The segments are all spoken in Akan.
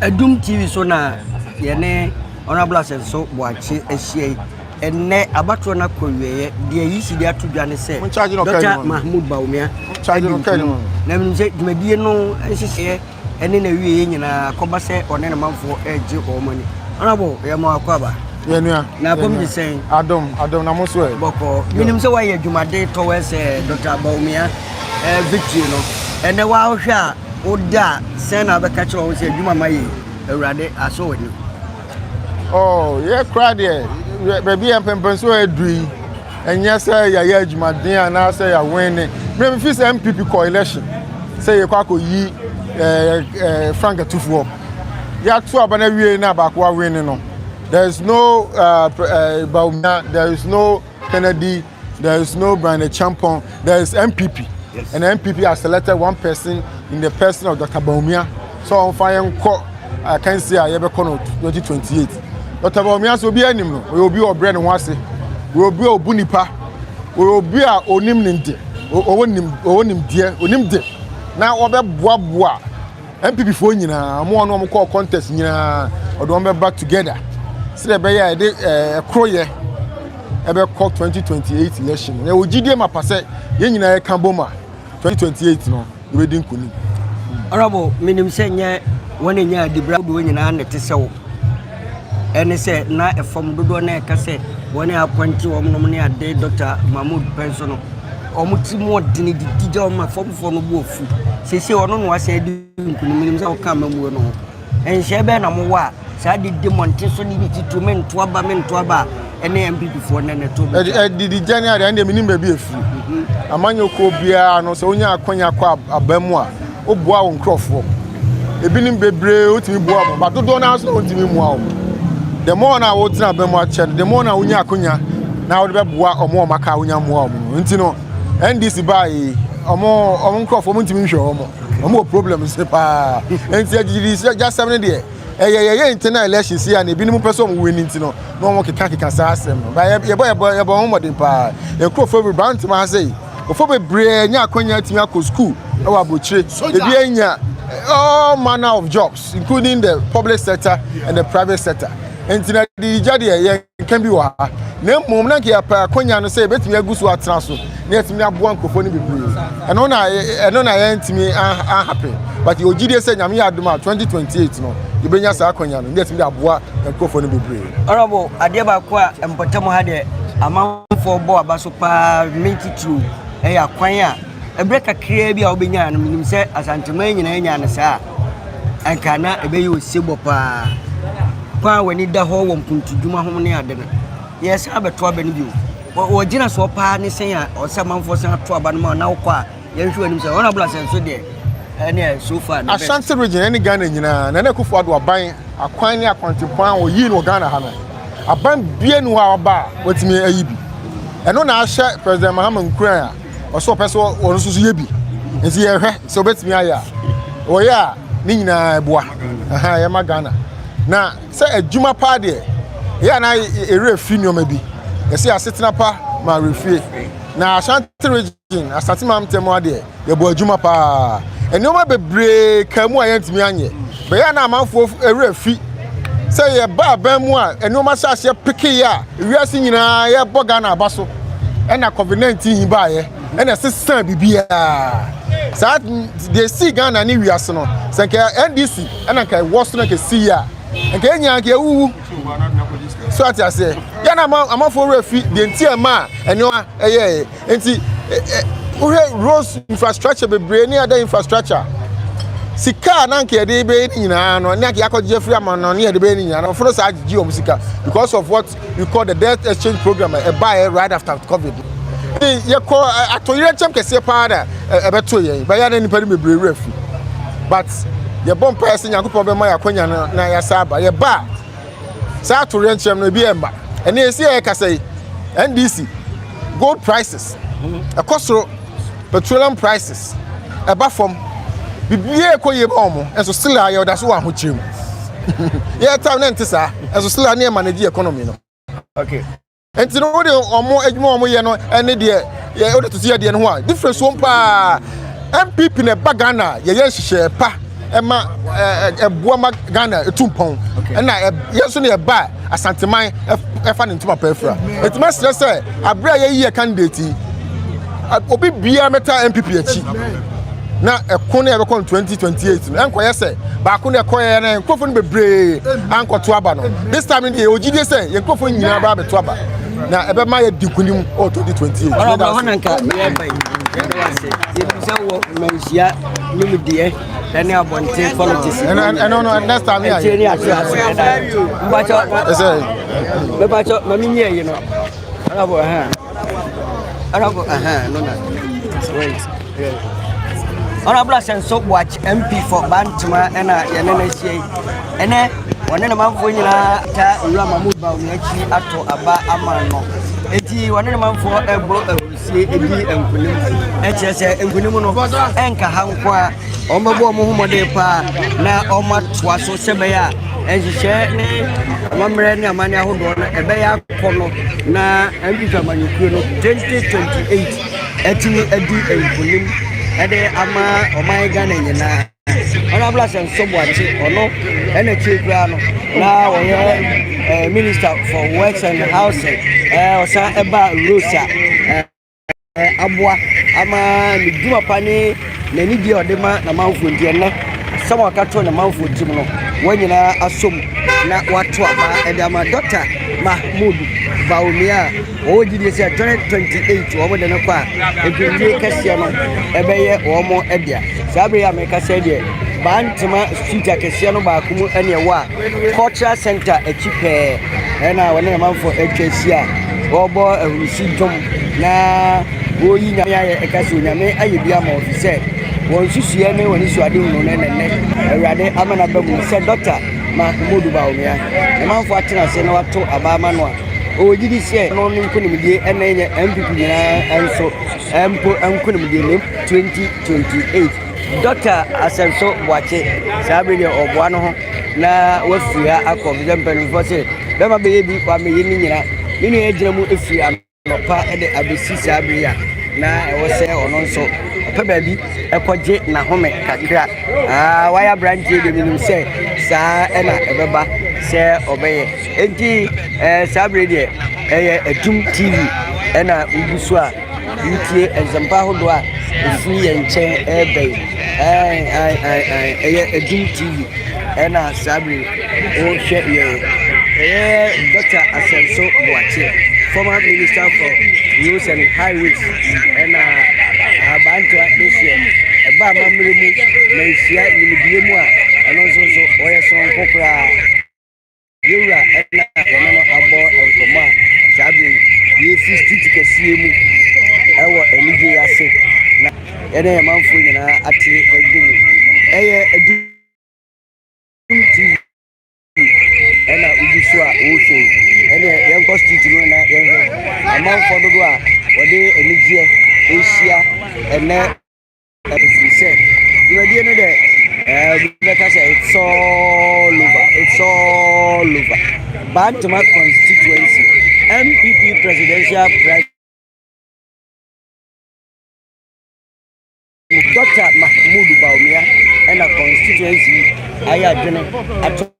Adum TV so na yɛne Honourable Asɛnso Boakye ahyia yi. Ɛnnɛ abatoɔ no akɔ wieɛ deɛ yi si de ato dwa ne sɛ Dr. Mahmoud Bawumia na menim sɛ dwumadie no nhyehyɛɛ ɛne n'awieeɛ nyinaa kɔba sɛ ɔne ne manfoɔ regye wɔn ani ɔnabɔ yɛ mo akɔ aba yɛnua na akɔm de sɛn adom adom na mo so ɛ bɔkɔɔ menim sɛ woayɛ adwumade tɔwɛ sɛ dɔkta baomia eh, victory no ɛnɛ woahwɛ a wode a sɛn na wobɛka kyerɛ wo sɛ adwuma ma yɛ awurade asɔ w'ani oh, yɛ koraa deɛ baabi yɛ mpɛmpɛnso aduru yi Ɛnyɛ sɛ yɛayɛ adwumaden anaasɛ yɛawen ne mmerɛ mfi sɛ MPP kɔ election sɛ yɛkɔ akɔyi frank atufoɔ yɛato aba no awie na baako awen ne no there is no uh, uh, Baumia, there is no Kennedy, there is no Brian Champon, there is MPP. Yes. And MPP has selected one person in the person of Dr. Baumia. sɛ ɔmfa yɛn nkɔ akansi a yɛbɛkɔ no 2028 dɔkta bawumia sɛ obi anim no ɔyɛ obi a ɔbrɛ ne ho ase ɔyɛ obi a ɔbu nipa ɔyɛ obi a ɔnim ne de ɔwɔ nim ɔwɔ nimdeɛ ɔnim de na wɔbɛboaboa npp foɔ nyinaa wɔn a wɔn kɔɔ contest nyinaa ɔde wɔn bɛba together sɛdeɛ ɛbɛyɛ a yɛde ɛɛ ɛkoroyɛ ɛbɛkɔ 2028 election yɛwɔ gyidie ma pa sɛ yɛn nyinaa yɛka bom a 2028 no yɛbɛdi nkonim. Honorable, menim sɛ nyɛ wɔn a ɛnya adibra dodoɔ nyinaa na ɛte sɛ wo ɛne sɛ na ɛfam dodoɔ na ɛka sɛ wɔn a apɔnte wɔn nom ne ade Dr. Mahmoud pɛn so no wɔn ti mu ɔdene didi gya wɔn ma famfoɔ no bu afu sese ɔno na wasan di nkunim menim sɛ wɔka amamuo no ho Nhyɛɛ bɛn na mowɔ a saa adidi mmɔnten so ne bi titiriw me nto aba me nto aba a ɛne MPPfoɔ nnɛ na ɛtɔ mu dwa? Adididwa ne adeɛ ɛndeɛ menim baabi ɛfiri. Mhm. Amanyɔkuo biara no sɛ wonya akwanya kɔ aba mu a woboa wo nkurɔfoɔ. Ebinom bebree wotumi boa wɔn, ba dodoɔ no ara nso na wontumi mmoa wɔn. The more na wotena aba mu akyɛ no, the more na wonya akwanya na wode bɛboa wɔn a wɔaka a wonya mmoa wɔn no. Nti no NDC baa yi ɔmo ɔmo nkorɔfo ɔmo ntumi nhwɛ ɔmo ɔmo wɔ problem se paa nti agyigidi sɛ gyasɛm no deɛ ɛyɛ yɛyɛ internal election si a na ebinom pɛ sɛ ɔmo win nti no na ɔmo keka keka saa asɛm no ba yɛbɔ yɛbɔ yɛbɔ ɔmo mmɔden paa nkorɔfo bebree ba ntoma ha sɛ nkorɔfo bebree nya akwanya atumi akɔ sukuu ɛwɔ aburokyire ebi anya all manner of jobs including the public sector and the private sector nti na agyigya deɛ yɛn. nka bi wɔ ha na mmom na nka yɛpɛ akɔnya no sɛ yɛbɛtumi agu so atena so na yɛtumi aboa nkurɔfoɔ no bebree ɛno na ɛno na yɛntumi ahape but yɛwɔ gyidie sɛ nyame yɛ adom a 2028 no yɛbɛnya saa akɔnya no na yɛtumi de aboa nkurɔfoɔ no bebree ɔrɔbo adeɛ baako a mpɔtam ha deɛ amanfoɔ bɔ aba so paa ne titiriw ɛyɛ akwan a ɛberɛ kakraa bi a wobɛnya no menim sɛ asanteman nyinaa nya no saa anka na ɛbɛyɛ osebɔ paa. Kwan a w'ani da hɔ wɔ mpontudwuma ho ne ade no, yɛsan abɛto aba no bio. Wɔgyina soɔ paa ne sɛn a ɔsɛ amanfoɔ san ato aba no ma na wokɔ a yɛnhwɛ w'anim sɛ honorable asɛnso deɛ ɛne so far no Ashanti region ɛne Ghana nyinaa Nana Akufo-Addo aban akwan ne akwantempɔn a wɔyii no wɔ Ghana ha no aban bia ni hɔ a waba a watumi ayi bi ɛno na ahyɛ President Mahama nkuran a Ɔsɛ ɔpɛ sɛ ɔno nso yɛ bi nti yɛhwɛ sɛ ɔbɛtumi ayɛ a ɔyɛ a ne nyinaa ɛboa yɛma Ghana na sɛ adwuma paa deɛ yɛ ana ɛwerɛ firi nneɛma bi yɛsɛ asetena pa ma awerɛfie na Ashanti region asate ma ntɛm adeɛ yɛbɔ adwuma paa nneɛma bebree kaa mu a yɛntumi anyɛ bɛyɛ na amanfoɔ ɛwerɛ fi sɛ yɛba aban mu a nneɛma hyɛ aseɛ pekeyɛ a Ewiase nyinaa yɛbɔ Ghana aba so ɛna covid 19 yi baayɛ ɛna ɛsesaa biribiara saa deɛ ɛsii Ghana ne wiase no sɛ nka NDC ɛna nka ɛwɔ so na nka ɛsi yɛ a nka yɛn nyinaa nka yɛwuwu so ate aseɛ yɛn na amanfoɔ werɛ fi deɛ nti ɛma a ɛnneɛma ɛyɛɛ Nti wohwɛ roads infrastructure bebree ne other infrastructure sika a na nka yɛde bɛyɛ ne nyinaa no ne anka yɛakɔgye afiri ama no ne yɛde bɛyɛ ne nyinaa no ɔfono saa gyegye wɔn sika because of what we call the debt exchange program a ɛbaeɛ right after covid ne yɛkɔ atoyerɛ kyɛm kɛseɛ paa na ɛbɛto yɛn bɛyɛ na nnipa no bebree werɛ fi but yɛbɔ mpaeɛ sɛ nyankopɔn bɛma yɛakwanya no na yɛasa aba yɛba a Saa atoyerɛnkyɛm no, ebi ɛmma. Ɛnna esi a yɛkasa yi, NDC, gold prices, ɛkɔ soro, petroleum prices, ɛba fam. Biribiara ɛkɔ yie ma wɔn, nso still a yɛda so wɔ ahokyere mu. Yɛtaa na nte saa, nso still a ne yɛ manage economy no. Okay. Nti no wode wɔn adwuma wɔn yɛ no ne deɛ yɛ wode tete adeɛ no ho a difference wɔm paa. MPP na ɛba Ghana yɛyɛ nhyehyɛɛ pa ɛma ɛboa ma Ghana etu mpɔn ɛna yɛn nso na ɛba Asanteman ɛfa ne ntoma pa afira. Eti masrɛ sɛ abere a yɛyi yɛ candidate obi biara mɛta MPP akyi. na ɛko no a ɛbɛkɔ no 2028 no ɛnkɔyɛ sɛ baako na ɛkɔyɛ na nkurɔfoɔ no bebree ankɔto aba no this time no deɛ yɛwɔ gyidie sɛ yɛn nkurɔfoɔ no nyinaa bɛa bɛto aba na ɛbɛma yɛdi nkonim wɔ 2028 ɛne abɔnten politics ɛno no next time yɛ ɛkyɛ ne ase ase ɛda mbakyɛ mbakyɛ mami nyɛ yi no ɛna bɔ ɛhɛn Honorable Asenso Boakye MP for Bantama ɛna yɛne no ahyia yi ɛnɛ wɔne ne manfoɔ nyinaa ta owura Mahmood Bawumia akyi ato aba ama no eti wɔne ne manfoɔ ɛbɔ ahurusie edi nkunim ɛkyerɛ sɛ nkunim no ɛnka ha nko a wɔn bɛbɔ wɔn ho mmɔden paa na wɔn atoa so sɛ bɛyɛ a nhyehyɛ ne amammerɛ ne amanne ahodoɔ no ɛbɛyɛ kɔ no na English amanyɔkuo no twenty twenty eight atumi adi nkunim ɛde ama ɔman Ghana nyinaa Honorable Asɛnso Boakye ɔno ɛna akyire koraa no na ɔyɛ ɛɛ eh, Minister for Works and Housing ɛɛ eh, ɔsan ɛba Rosa ɛɛ. Eh, aboa ama ne dwuma pa ne n'anigyeɛ a ɔde ma n'amanfoɔ nti ɛnɛ asɛm a ɔka to n'amanfoɔ tirim no wɔn nyinaa asom na wɔato aba ɛde ama dɔkta mahmood baomia a wɔwɔ gyidie sɛ 2028 wɔn de no kɔ a mpemdie kɛseɛ no ɛbɛyɛ wɔn ɛdea saa bere yi a mɛka sɛ deɛ baa ntoma street akɛseɛ no baako mu ɛne ɛwɔ a Cultural Centre akyi pɛɛ na wɔne amanfoɔ atwa ahyia a wɔrebɔ ahurisi dwom na wɔreyi nyame ayɛ ɛka sɛ onyame ayɛ bi ama wɔn sɛ wɔn susuɛ ne wɔn suade hunu ne nɛnɛ awurade ama no aba mu sɛ dɔkta ma Umodu Bawumia amanfoɔ atena ase na wato abaa ma no a ɔgye di sɛ no ne nkonimdie ɛna ɛnyɛ MPP nyinaa nso mpo nkonimdie ne 2028 Dɔkta Asɛnso Boakye, saa bere deɛ ɔboa no ho na wafiri ha akɔ sɛ mpanimfoɔ se bɛma bɛyɛ bi wɔ ameyɛ no nyina ne nua agyina mu firi anɔpa de abɛsi saa bere a na ɛwɔ sɛ ɔno nso ɔpɛ baabi ɛkɔgye n'ahome kakra aa wayɛ aberanteɛ deɛ menim sɛ saa ɛna ɛbɛba sɛ ɔbɛyɛ enti ɛɛ saa bere deɛ ɛyɛ atum tv ɛna wogu so a retie nsɛmpa ahodoɔ a ɛfiri yɛn nkyɛn ɛreba yi ɛyɛ adum tv ɛna saa bere wɔhwɛ yɛn ɛyɛ dɔkta asɛnso boakye former minister for roads and highways ɛna abantoa bɛhyɛ ɛba amammerɛ mu na ɛhyia nimdeɛ mu a ɛno nso nso wɔyɛ soronko koraa Yɛn wura ɛna yɛne no abɔ nkɔmmɔ a saa bere yi yɛfi street kɛseɛ mu ɛwɔ anigye yi ase na yɛne yɛn manfoɔ nyinaa ate agu mu ɛyɛ adu tv ɛna wobi so a wohwɛ ɛne yɛnkɔ street no na yɛnhwɛ amanfoɔ dodo a wɔde anigyeɛ ɛhyia ɛnɛ Ɛfiri sɛ dwumadie no dɛ ɛɛ bi bɛka sɛ it's all over it's all over Bantama constituency NPP presidential primary. Dr. Mahmoud Bawumia ɛna constituency ayɛ adwene ato.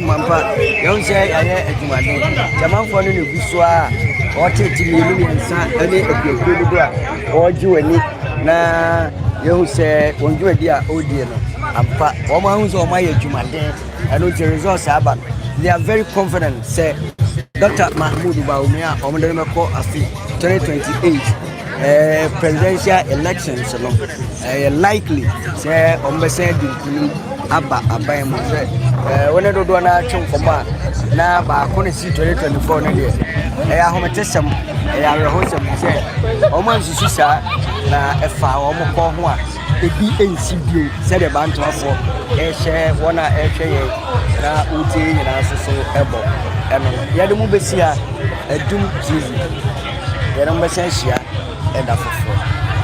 Mampa, yɛhu sɛ yɛayɛ adwumaden. Germanfoɔ no na ɛgu so a wɔtete mmienu mmiɛnsa ne akuakuo dodo a wɔregye w'ani na yɛhu sɛ wɔn dwumadi a wɔredie no ampa wɔn ahu sɛ wɔn ayɛ adwumaden ɛno nti results aba no they are very confident sɛ dr mahmood baumia wɔn de no bɛkɔ afe 2028 Eh, presidential elections no ɛyɛ eh, likely sɛ ɔmbɛsɛn de nkunim aba aban mu sɛ eh, wɔne dodoɔ no atwe nkɔmmɔ a na baako ne si 2024 no deɛ ɛyɛ ahomete sɛm ɛyɛ awerɛho sɛm sɛ ɔma nsusu saa na ɛfa wɔn kɔ ho a ebi nsi bio sɛdeɛ bantoafoɔ ɛhyɛ wɔn a ɛhwɛ yɛn na wotie yɛn nyinaa nso so ɛbɔ ɛno yɛde mo bɛsi a ɛdum tv yɛde mo bɛsan hyia ɛda foforɔ